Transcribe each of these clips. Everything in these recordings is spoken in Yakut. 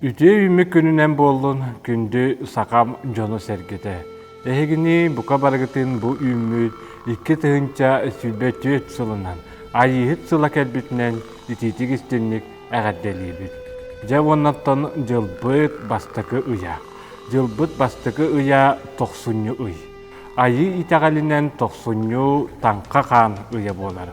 Үтүө-үүммүт күнүнэн буоллун күндү сахам дьоно-сэргэтэ. Эһигини бука барыгытын бу үүммүт икки тыһыынча сүүрбэ түөрт сылынан Айыыһыт сыла кэлбитинэн итиитик истинник эҕэрдэлиибит. Дьэ уоннаттан дьылбыт бастакы ыйа. Дьылбыт бастакы ыйа тохсунньу ый. Айыы итэҕэлинэн тохсунньу Таҥха хаан ыйа буолар.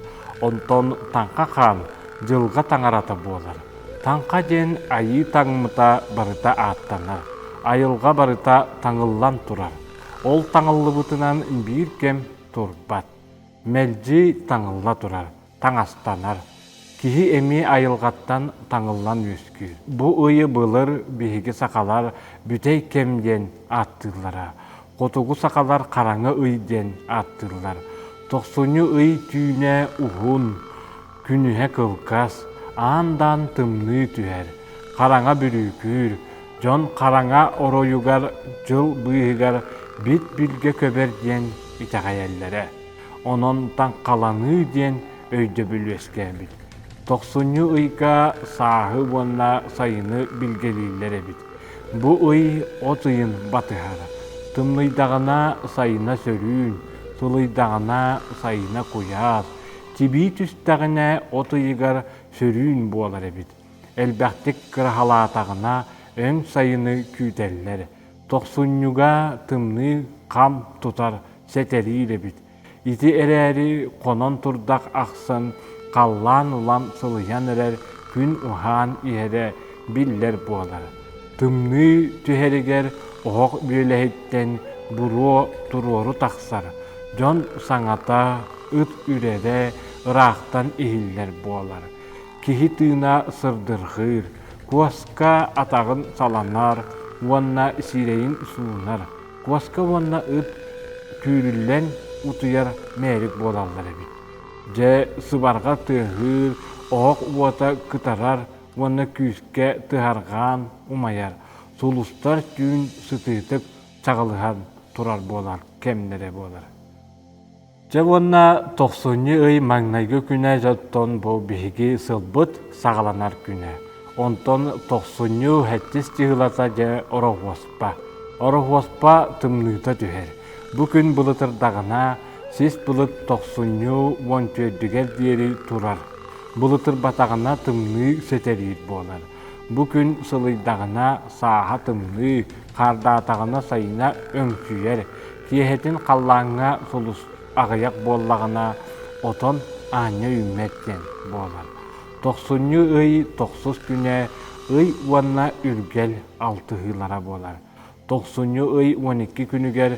Онтон Таҥха хаан Дьылҕа таҥарата буолар. Таҥха диэн айыы таҥмыта барыта ааттанар, айылҕа барыта таҥыллан турар. Ол таҥыллыбытынан биир кэм турбат, мэлдьи таҥылла турар. таҥастанар. Киһи эмиэ айылҕаттан таҥыллан үөскүүр. Бу ыйы былыр биһиги сахалар бүтэй кэм диэн ааттыыллара. Хотугу сахалар хараҥа ый диэн ааттыыллар. Тохсунньу ый түүнэ уһун, күнүһэ кылгас, аан-даан тымныы түһэр, хараҥа бүрүүкүүр, дьон хараҥа оройугар дьыл быыһыгар бит-билгэ көбөр диэн итэҕэйэллэрэ. онон таҥхаланыы диэн өйдөбүл үөскээбит. Тохсунньу ыйга сааһы уонна сайыны билгэлииллэр эбит. Бу ый от ыйын батыһара. Тымныйдаҕына сайына сөрүүн, сылыйдаҕына сайына куйаас, тибии түстэҕинэ от ыйыгар сөрүүн буолар эбит. Элбэхтик кыраһалаатаҕына өҥ сайыны күүтэллэр. Тохсунньуга тымныы хам тутар сэтэлиир эбит. Ити эрээри хонон турдах ахсын халлаан улам сылыйан эрэр күн уһаан иһэрэ биллэр буолар. Тымныы түһэригэр оһох бүөлэһиттэн буруо туруору тахсар, дьон саҥата, ыт үрэрэ ыраахтан иһиллэр буолар. киһи тыына сырдырҕыыр, куоска атаҕын саланар уонна сирэйин суунар, куоска уонна ыт түүрүллэн утуйар мээрик буолаллар эбит. Дьэ, сыбарҕа тыаһыыр, оһох уота кытарар уонна күүскэ тыһарҕаан умайар, сулустар түүн сытыытык чаҕылыһан турар буолан кэмнэрэ буолар. Дьэ уонна тохсунньу ый маҥнайгы күнэ дьонтон бу биһиги сылбыт саҕаланар күнэ. Онтон тохсунньу хэттис дьыһылата дьэ Ороһуоспа. Ороһуоспа тымныыта түһэр. Бу күн былытырдаҕына сис былыт тохсунньу уон түөрдүгэр диэри турар. Былытырбатаҕына тымныы сэтэлиир буолар. Бу күн сылыйдаҕына сааһа тымныы, хаардаатаҕына сайына өҥчүйэр. Киэһэтин халлааҥҥа сулус аҕыйах буоллаҕына, отон аанньа үүммэт диэн буолар. Тохсунньу ый тохсус күнэ, ый уонна үргэл алтыһыылара буолар. Тохсунньу ый уон икки күнүгэр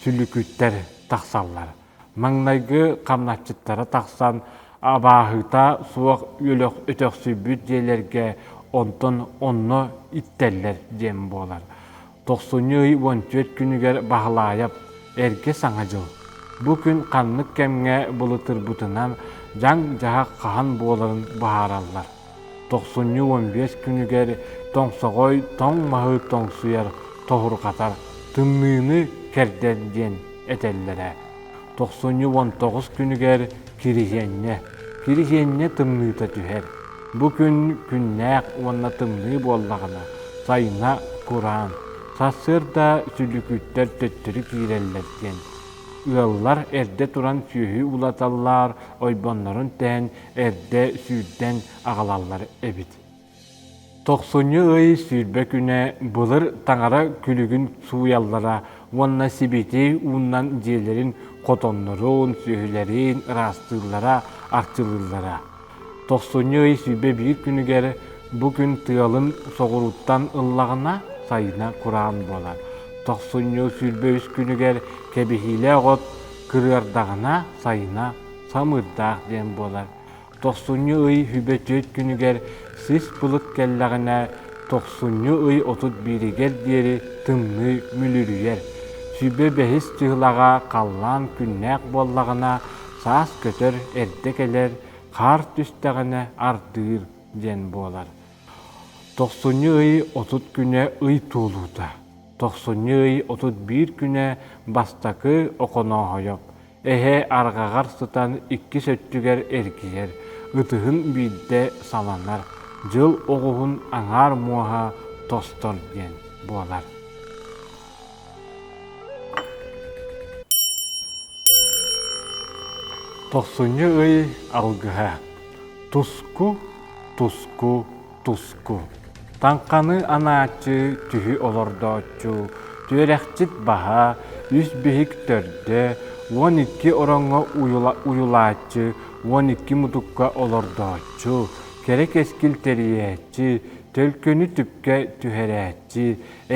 сүлүкүттэр тахсаллар. Маҥнайгы хамначчыттара тахсан, абааһыта суох үөлэх өтөхсүйбүт дьиэлэргэ онтон онно иттэллэр диэн буолар. Тохсунньу ый уон түөрт күнүгэр Баһылаайап, эргэ саҥа дьыл. Бу күн ханнык кэмҥэ былытырбытынан дьаҥ-дьаһах хаһан буоларын быһаараллар. Тохсунньу уон биэс күнүгэр тоҥсоҕой тоҥ маһы тоҥсуйар, тоһурҕатар, тымныыны кэрдэр диэн этэллэрэ. Тохсунньу уон тоҕус күнүгэр Кирисиэнньэ Кирисиэнньэ тымныыта түһэр. Бу күн күннээх уонна тымныы буоллаҕына, сайына кураан, сарсыарда сүлүкүттэр төттөрү киирэллэр диэн, ыаллар эрдэ туран сүөһү улаталлар, ойбоннорун тээн эрдэ сүүрдэн аҕалаллар эбит. Тохсунньу ый сүүрбэ күнэ былыр таҥара күлүгүн сууйаллара уонна сибити ууннан дьиэлэрин хотоннорун, сүөһүлэрин ыраастыыллара, арчылыыллара. Тохсунньу ый сүүрбэ биир күнүгэр бу күн тыалын соҕурууттан ыллаҕына сайына кураан буолар. Тохсунньу сүүрбэ үс күнүгэр кэбиһиилээх от кырыардаҕына сайына самыырдаах диэн буолар. Тохсунньу ый Сүбэ түөрт күнүгэр сис былыт кэллэҕинэ, тохсунньу ый отут бииригэр диэри тымныы мүлүрүйэр. Сүбэ бэһис дьыалаҕа халлаан күннээх буоллаҕына, саас көтөр, эрдэ кэлэр, хаар түстэҕинэ ардыыр диэн буолар. Тохсунньу ый отут күнэ ый туолуута. Тохсунньу ый отут биир күнэ бастакы Оконооһойоп, Эһэ арҕаҕар сытан иккис өттүгэр эргийэр, ытыһын биирдэ саланар, дьыл оҕуһун аҥаар муоһа тостор диэн буолар. Тохсунньу ый алгыһа. Туску, туску, Туску, таҥханы анааччы түһү олордооччу түөрэхчит баһа үс биһик төрдө уон икки ороҥҥо уйулааччы уон икки мутукка олордооччу кэрэ кэскил тэрийээччи төлкөнү түпкэ түһэрээччи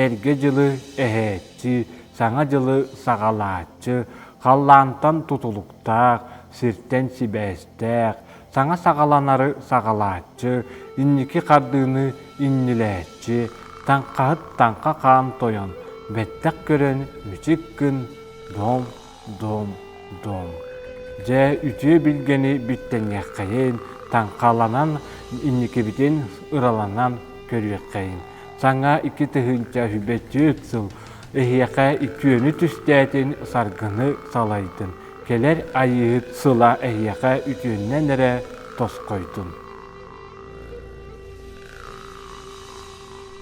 эргэ дьылы эһээччи саҥа дьылы саҕалааччы халлаантан тутулуктаах сиртэн сибээстээх саҥа саҕаланары саҕалааччы, инники хардыыны иннилээччи, таҥхаһыт таҥха хаан тойон, бэттэх көрөн мүчүк гын, дом, дом, дом. Дьэ, үтүө билгэни бүттэниэххэйин, таҥхаланан, инникибитин ыраланан көрүөххэйин. Саҥа икки тыһыынча үбэччит сыл эһиэхэ үтүөнү түстээтин, саргыны салайдын. Кэлэр Айыыһыт сыла эһиэхэ үтүөннэн эрэ тосхойдун!